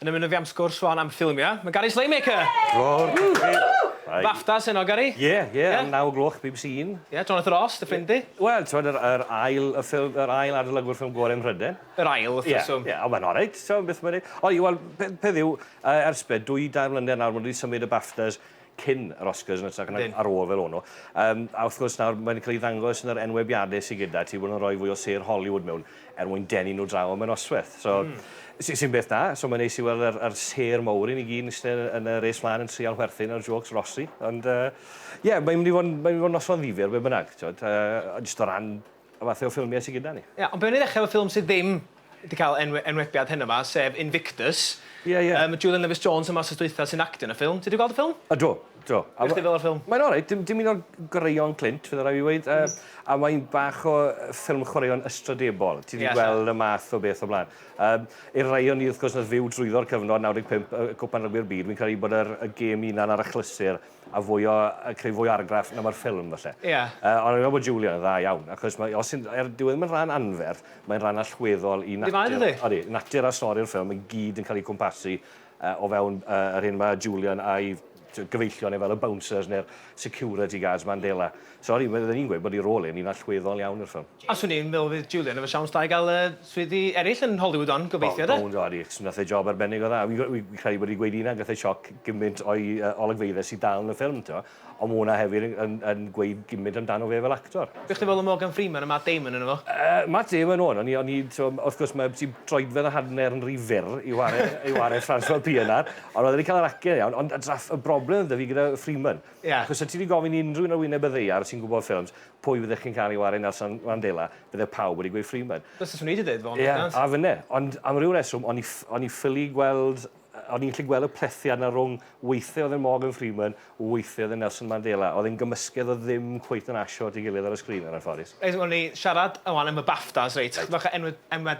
Yn ymuno fi am sgwrs rwan am ffilmia. Mae Gary Slaymaker! Ww! Ww! Baftas heno Gary? Ie ie am naw o gloch BBC un. Ie Jonathan Ross dy ffrind di? Wel t'mod yr yr ail y ffilm yr ail adolygwr ffilm gore yn Mhryden. Yr ail wrth reswm. Ie ie ond ma'n oreit t'o' beth ma'n neud. O i- wel pe- peth yw yy ers be' dwy dair mlynedd nawr ma' n'w 'di symud y Baftas cyn yr Oscars yn hytrach nag ar ôl fel o'n nhw. Yym, a wrth gwrs nawr mae'n cael ei ddangos yn yr enwebiadau sydd gyda ti, bod nhw'n rhoi fwy o sêr Hollywood mewn er mwyn denu nhw draw am y noswaith. So, sy- sy'n beth da, so mae'n neis i weld yr, yr sêr mowr i ni gyd yn eistedd yn y res mlaen yn trial chwerthin ar jôcs Rossi. Ond yy, ie, mae'n mynd i fod yn, mae'n mynd i fod yn noson ddifyr be' bynnag, t'mod, yy, jyst o ran Y fath o ffilmiau sy gyda ni. Ia, ond be' o'n i ddechre efo ffilm sydd ddim 'di ca'l enw- enwebiad heno 'ma, sef Invictus. Ie, ie. Yym Julian Lewis Jones yma wsos dwytha sy'n actio yn y ffilm. Ti 'di gweld y ffilm? Yy do, do. Be' chdi feddwl o'r ffilm? Mae'n alright, dim dim un o'r goreuon Clint, fydda rai' fi weud, yy a mae'n bach o yy ffilm chwaraeon ystradebol. Ti 'di gweld y math o beth o bla'n. Yym i'r rai o ni wrth gwrs nath fyw drwyddo'r cyfnod 95 yy Cwpan Rygbi'r Byd, fi'n credu bod yr y gêm 'i unan ar achlysur A fwy o, a creu fwy o argraff na mae'r ffilm, falle. Ie. Yy, ond fi'n meddwl bod Julia yn dda iawn, achos mae, os ti'n, er dyw e ddim yn rhan anferth, mae'n rhan allweddol i natur... Yndi, mae, yndi. Odi, natur a stori'r ffilm i gyd yn cael eu cwmpasu yy o fewn yy yr hyn mae Julian a'i t'wo' gyfeillion e fel y bouncers neu'r security guards, Mandela. So odi, fel o'n i'n gweud, bod ei rôl e'n un allweddol iawn i'r ffilm. A swn i'n meddwl fydd Julian efo siawns da i gael swyddi eraill yn Hollywood wan, gobeithio de? O, do, ydy, achos wnaeth e job arbennig o dda. Fi'n credu bod hi wedi gweud ei hunan, gaeth e sioc gymaint o'i olygfeydd-e sydd dal yn y ffilm, tibod, ond mae hwnna hefyd yn gweud gymaint amdano fe fel actor. Be chdi'n feddwl am Morgan Freeman a Matt Damon ynddo fo? Yy, Matt Damon, o'n, o'n i, o'n i, tibod, wrth gwrs mae sy'n troedfedd o hanner yn rhy fyr i ware, i ware Francois Pienaar, ond oedd e wedi cael yr acen iawn, ond y draf- y broblem oedd 'da fi gyda Freeman, Ie, achos os ti 'di gofyn i unrhyw un ar wyneb y ddaear sy'n gwybod ffilms pwy fyddech chi'n cael i ware Nelson Mandela, fydde pawb wedi gweud Freeman. Byse, swn i 'di deud fo yn bendant. Ie, a finne. Ond am ryw reswm, o'n i o'n i ffili gweld, o'n i'n gallu gweld y plethiad 'na rhwng weithie oedd e'n Morgan Freeman, weithie oedd e'n Nelson Mandela. Oedd e'n gymysgedd oedd ddim cweit yn asio at ei gilydd ar y sgrin, yn anffodus. Reit, wel, 'na ni siarad ŵan am y BAFTAs, reit, chydig bach o enw- enwe-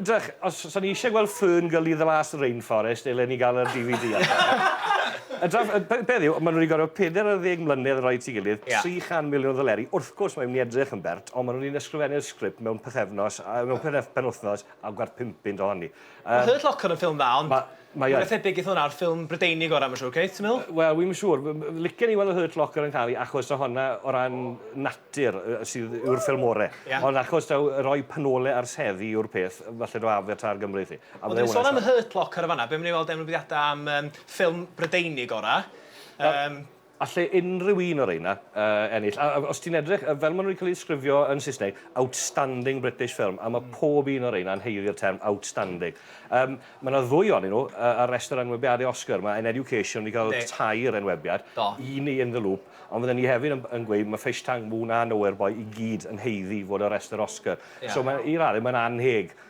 Drych, os o'n i eisiau gweld Fern Gully The Last Rainforest, ddylen i gael yr DVD allan. Peth yw, maen nhw wedi gorfod 40 mlynedd rhoi at ei gilydd, 300 miliwn o ddoleri, wrth gwrs mae'n mynd i edrych yn bert, ond maen nhw wedi ysgrifennu'r sgript mewn pythefnos, mewn penwythnos, a gwerth pum punt ohoni. Mae Hurt Locker yn ffilm dda, ond Mae o. Mwy na thebyg geith hwn a'r ffilm Brydeinig orau mae'n siwr, Keith, ti'n meddwl? Wel, wi'm yn siŵr. M- m- licen i weld y Hurt Locker yn cael ei achos o honna o ran natur y- y- sydd yw'r ffilm ore. Ia. Ond achos taw roi panole ar seddi yw'r peth, falle do Avertar Gymru i thi. A Ond yn sôn am y Hurt Locker yn fanna, be am ni weld enwebidiadau am yym ffilm Brydeinig orau? Yym. Alle unrhyw un o reina ennill. A os ti'n edrych, fel maen nhw wedi cael eu disgrifio yn Saesneg, outstanding British film, a mae pob un o reina yn heili'r term outstanding. Yym, mae yna ddwy ohonyn nhw ar restr enwebiadau Oscar. Mae An Education wedi cael tair enwebiad, un i In the Loop, ond fydden ni hefyd yn yn gweud mae Fish Tank, Moon a Nowhere Boy i gyd yn haeddu fod ar restr Oscar. So mae, i raddau, mae'n annheg.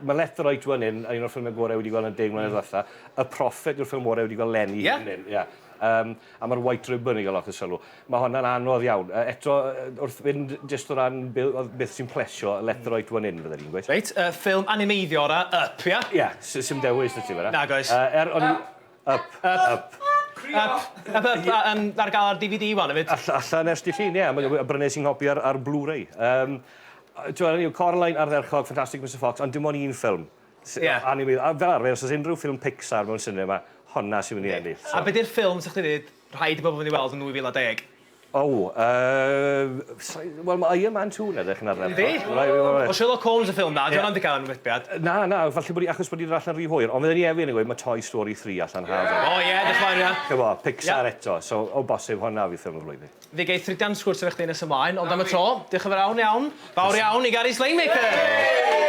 Mae Let the Right One In yn un o'r ffilmiau gorau wedi gweld yn y deg mlynedd ddiwetha'. Y Prophet yw'r ffilm orau wedi gweld leni hyd yn hyn. Ie? Ie. Yym, a ma'r White Ribbon wedi cael lot o sylw. Mae honna'n anodd iawn. Yy, eto, yy, wrth fynd jyst o ran be' oedd, beth sy'n plesio, Let the Right One In fydden i'n gweud. Reit, y ffilm animeiddio orau, Up, ie? Ie, s- 'sim dewis 'da ti fan 'na. Nag oes. Yy, er o'n i... Up. Up. Up. Crio! Up. Up Up Up a yym ar ga'l ar Dee Vee Dee ŵan efyd. All- allan ers dy llun ie ma' a brynes i nghopi ar ar Blu-ray. Yym a t'mo' hynny yw Coraline Ardderchog, Fantastic Mister Fox ond dim on' un ffilm sy... Ie. ...a ni myn' i a fel arfer os o's unryw ffilm Pixar mewn sinema honna sy myn' i ennill so. A be' 'di'r ffilm sa chdi ddeud rhaid i bobol fyn' i weld yn 2010? O, yy, wel mae Iron Man 2 yn edrych yn ardderchog. Yndi? O Sherlock Holmes y ffilm 'na, 'di hwnna 'di cael ymrwymiad? Na, na, falle bod hi, achos bod hi 'di dod allan rhy hwyr, ond fydden i hefyd yn gweud mae Toy Story 3 allan haf yma. O ie, edrych mlaen i hwnna. Ch'mo, Pixar eto, so o bosib hwnna fydd ffilm y flwyddyn. Fe gei thrydan sgwrs efo chdi nes ymlaen, ond am y tro, diolch yn fawr iawn, fawr iawn i Gary's Lane Maker!